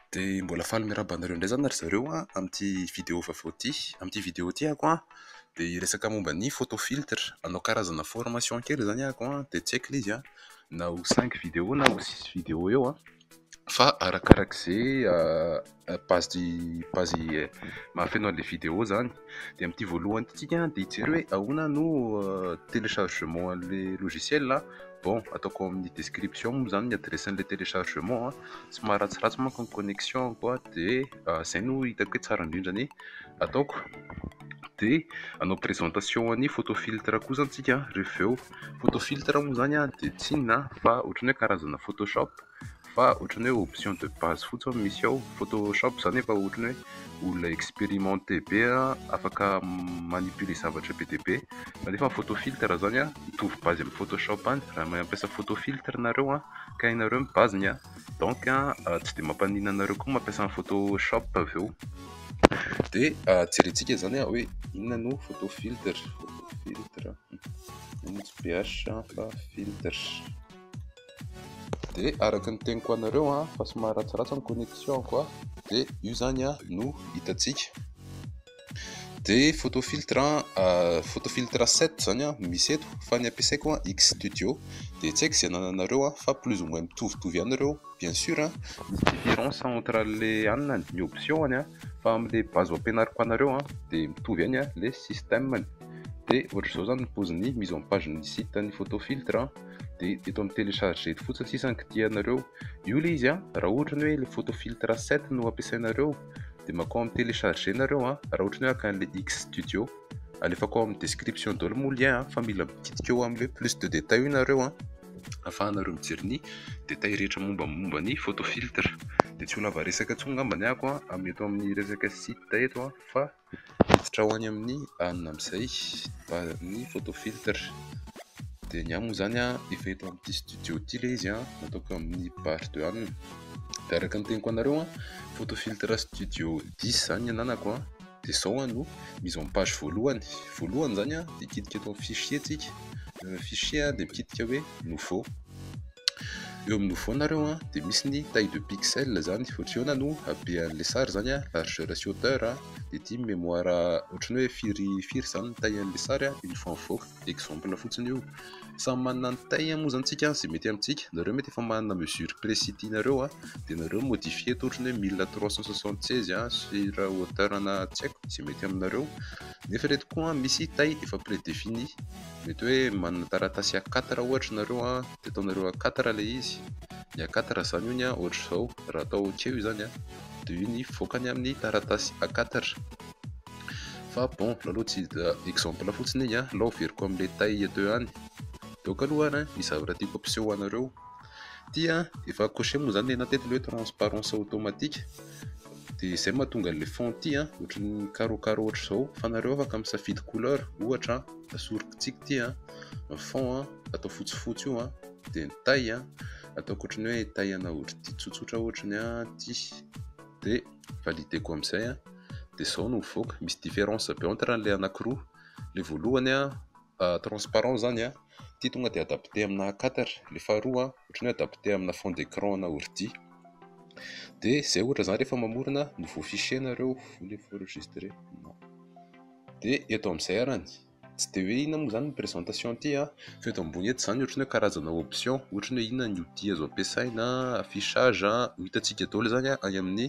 Dia mbola faly miarahaba anareo indray izany ry zareo an amin'ity video vaovao ity. Amin'ity video ity aho an dia hiresaka momba ny photo filtre. Hanao karazana formation kely izany aho an dia tsy haiko ilay izy an. na ho cinq video na ho six video eo an, fa arakaraka izay page page mahafeno an'ilay video izany, dia amin'ity voalohany ity tsika dia hijery hoe ahoana no téléchargement an'ilay logiciel an, bon ataoko ao amin'ny description moa izany ny adresse an'ilay téléchargement an, somary ratsiratsy manko ny connexion ko an, dia izay no hitako hoe tsara indrindra ny ataoko, dia hanao présentation an'ny photo filtre koa izany tsika rehefa avy eo. Photo filtre moa izany dia tsy inona fa ohatran'ny hoe karazana photoshop fa ohatran'ny hoe option de base fotsiny misy ao. Photoshop izany efa ohatran'ny hoe olona expérimenté be afaka manipuler zavatra be dia be. Nefa ny photo filtre izany mitovy base amin'ny photoshop ihany. Raha mampiasa photo filtre ianareo ka hainareo ny base-ny donc tsy dia mampaninona anareo koa ny mampiasa ny photoshop avy eo. Dia jerentsika izany hoe inona no photo filtre. Ny DH fa filtres. Dia araka ny teniko anareo an, fa somary ratsiratsy ny connexion ko an, dia io zany an no hitantsika. Dia photo filtre an, photo filtre 7 zany an misy eto, fa ny ampiasaiko an X studio. Dia tsy haiko izay anananareo an, fa plus ou moins mitovitovy ihany ireo, bien sur an, misy difference entre le anona ny option ny an, fa amle base ho ampianariko anareo an dia mitovy ihany an le système ny. dia ohatr'izao zany ny poziny mise en page ny site ny photo filtre an dia eto amin'ny télécharge eto fotsiny sisa ny kitihanareo io le izy an raha ohatra ny hoe le photo filtre 7 no ampiasainareo dia makao amin'ny télécharge nareo an raha ohatra ny hoe akan'le x studio alefako ao amin'ny description daholo moa lien an fa mila mikitika eo amin'le plus de détail io nareo an afahanareo mijery ny détail rehetra momba momba ny photo filtre dia tsy ho lava resaka tsy ho ngambany ako an amin'ny eto amin'ny resaka site eto an fa Miditra ho any amin'ny alina amin'izay ny photo filtre dia ny ahy moa izany efa eto amin'ity studio ity ilay izy nataoko amin'ny part de alina dia araka ny teniko anareo photo filtre studio dix izany ny ananako dia izao no mise en page voalohany, voalohany izany dia midika eto amin'ny fichier tsika, ny fichier dia midika hoe nouveau. eo amin'ny nouveau nareo a dia misy ny taille de pixel zany ohatr'iona no habean'le sary zany a largeur sy hauteur a dia ity mémoire ohatran'ny hoe firy firy zany ny taille an'le sary a une fois mivoaka exemple fotsiny io samy manana ny taille moa zany tsika zay mety amintsika nareo mety efa manana mesure précis tianareo a dia nareo modifier eto ohatrany hoe mille trois cent soixante seize a sur hauteur ana tsy haiko zay mety aminareo nefa ireto koa misy taille efa prédéfinie Mety hoe manana taratasy A quatre ohatra nareo an, de ataonareo A quatre ilay izy, ny A quatre zany ony an ohatr'izao, raha atao ok io zany an, de io ny voakany amin'ny taratasy A quatre, fa bon lalao tsy exemple fotsiny iny an, lao averiko amin'ilay tay eto eo ihany, de ok aloha an ny zavatra tiako ampiseho anareo, ty an efa cocher moa zany ilay anaty eto ilay hoe transparence automatique, de izay no mahatonga an'ilay fond ty an ohatran'ny carreau carreau ohatr'izao, fa nareo afaka misafidy couleur ohatra an. Asoriko tsiky ity an, ny fond an atao fotsifotsy io an, dia ny taille an atao ohatran'ny hoe taille ana otrity tsotsotra ohatrany ity, dia valideko amin'izay an, dia izao no mivoaka, misy difference be entre an'ilay anakiroa, ilay voalohany an transparent izany an, ity tonga dia adapté amina a quatre, ilay faharoa an ohatran'ny hoe adapté amina fond d'écran ana ordi, dia izay ohatra izany rehefa mamorona nouveau fichier nareo, voulez vous enregistrer? non. Dia eto amin'izay arany, tsy dia hoe inona moa izany ny présentation ity an, fa eto ambony eto izany ohatran'ny hoe karazana option, ohatran'ny hoe inona ny outil azo ampiasaina, affichage an, ho hitantsika daholo izany any amin'ny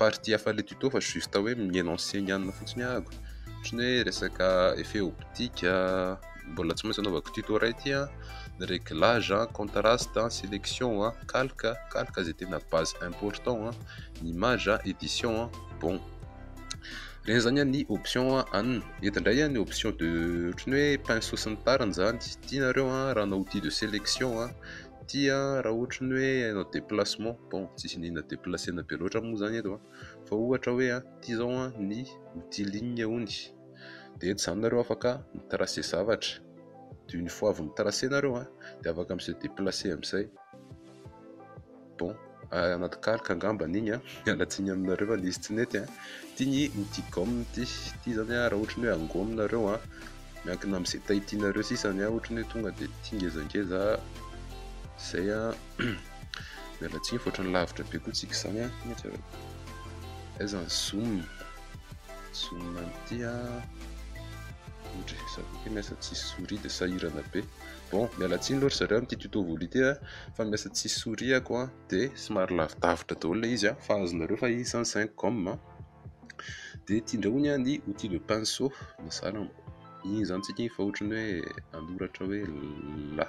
partie hafa ilay tuto fa juste hoe mi-enoncer ny anona fotsiny ahako, ohatran'ny hoe resaka effet optique, mbola tsy maintsy anaovako tuto iray ity an, ny réglage an, contraste an, sélection an, calque, calque izay tena base important an, ny image an, édition an, bon. Ireny izany ny option an. Eto indray ny option de ohatry ny hoe pinceau sy ny tariny izany. Ity nareo raha hanao outil de sélection. Ity raha ohatry ny hoe hanao déplacement. Bon, tsy misy an'inona déplacer-na be loatra moa izany eto. Fa ohatra hoe ity izao ny outil ligne hono. Dia eto izany nareo afaka mi-tracer zavatra. Dia une fois avy mi-tracer nareo dia afaka mi-se déplacer amin'izay. Bon, anaty kalka angambany igny an, miala tsiny aminareo fa nisy tsy nety an, ty ny outil gomme ty, ty zany an raha ohatry ny hoe angomy nareo an, miankina amin'izay taille tianareo sisany an, ohatry ny hoe tonga dia ty ngezangeza, zay an, miala tsiny fa ohatry ny lavitra be koa tsika izany an, mety avy eo, aiza ny zoom, zoom an'ity an, ohatry, za koa kay miasa tsisy souris dia sahirana be. Bon, miala tsiny aloha ry zareo amin'ity tuto voly ity a, fa miasa tsisy souris ako a, de somary lavidavitra daholo ilay izy a, fa azonareo fa izy zany zinc gomme a, de ity indray hono a ny outil de pinceau, mazàna mo, iny zany tsika iny fa ohatran'ny hoe hanoratra hoe la,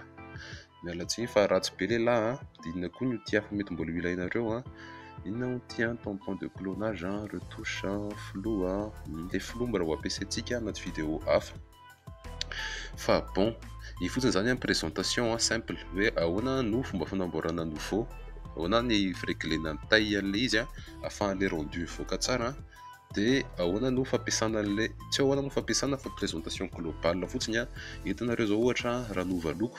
miala tsiny fa ratsy be ilay la a, de inona koa ny outil hafa mety mbola ho ilainareo a, inona ny outil an, tampon de clonage an, retouche an, flou an, ilay flou mbola ho ampiasaintsika anaty vidéo hafa. Fa bon, io fotsiny zany an présentation an simple hoe ahoana no fomba fanamboarana nouveau, ahoana ny fireglena ny taille an'ilay izy an afahan'ilay rendu mivoaka tsara an, de ahoana no fampiasana an'ilay, tsy hoe ahoana no fampiasana fa présentation globale fotsiny an, eto nareo zao ohatra raha hanova loko,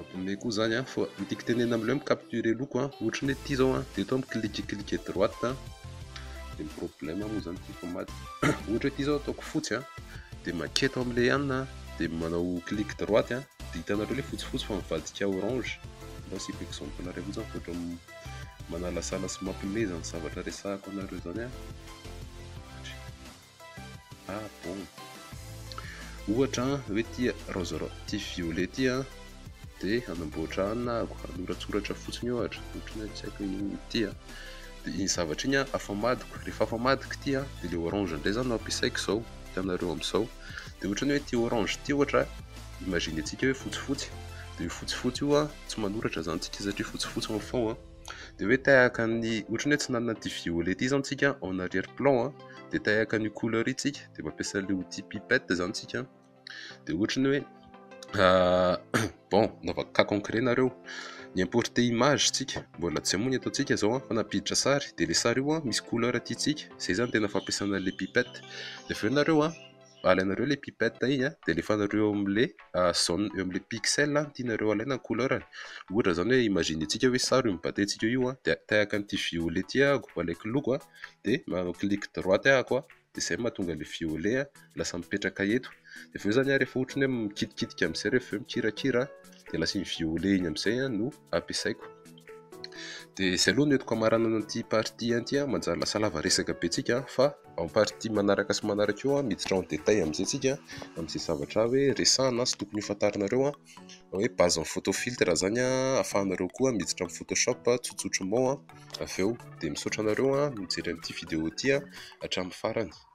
Abonné koa zany a, fa ny tiako tenenina amin'ilay hoe mi-capturer loko a, ohatry ny hoe ity zao a, de eto a mi-clique clique droite a, de ny problème moa zany ity mpamaly, ohatra hoe ity zao ataoko fotsy a, de maketo amin'ilay ihany a, de manao clique droite a, de hitanareo le fotsifotsy fa mivadika orange, mba asiako exemple nareo fotsiny fa ohatra manalasala sy mampimeza ny zavatra resahako anareo zany a. Ah bon. Ohatra an, hoe ity raozy ity violet ity an, dia hanamboatra an, na hanoratsoratra fotsiny ohatra, ohatra ny hoe tsy haiko inona ity an, dia iny zavatra iny an afamadiko, rehefa afamadiko ity an, dia ilay orange indray izany no ampiasaiko izao hitanareo amin'izao, dia ohatra ny hoe ity orange ity ohatra, imaginentsika hoe fotsifotsy, dia io fotsifotsy io an, tsy manoratra izany tsika satria fotsifotsy en fond an, dia hoe tahaka ny, ohatra ny hoe tsy nanana ity violet ity izany tsika en arrière plan an. dia te haka an'io couleur io tsika dia mampiasa an'ilay outil pipette izany tsika dia ohatra ny hoe bon nova cas concret nareo ny importer image tsika mbola tsy hamoy ny ataontsika izao fa nampiditra sary dia ilay sary io misy couleur tiantsika izay izany tena fampiasana an'ilay pipette dia avy eo nareo alainareo ilay pipette iny an, dia alefanareo eo amin'ilay zone, eo amin'ilay pixel ny tianareo alaina ny couleur-ny. Ohatra izany hoe imaginer-tsika hoe sary io mibatentsika io an, dia tahaka an'ity violet ity ahako, alaiko loko an, dia manao clic droite ahako an, dia izay no mahatonga ilay violet an lasa mipetraka eto. Dia avy eo izany an, rehefa ohatra ny hoe mikitikitika amin'izay rehefa avy eo mikirakira an, dia lasa iny violet iny amin'izay an no ampiasaiko. Dia izay aloha no entiko hamaranana an'ity partie ity an, manjary lasa lava resaka be antsika an, fa Amin'ny partie manaraka sy manaraka eo miditra en détail amin'izay tsika amin'izay zavatra hoe resahana sy tokony ho fantarinareo hoe base amin'ny photo filtre izany ahafahanareo koa miditra amin'ny photoshop tsotsotr'mao avy eo dia misaotra anareo nijery an'ity vidéo ity hatramin'ny farany.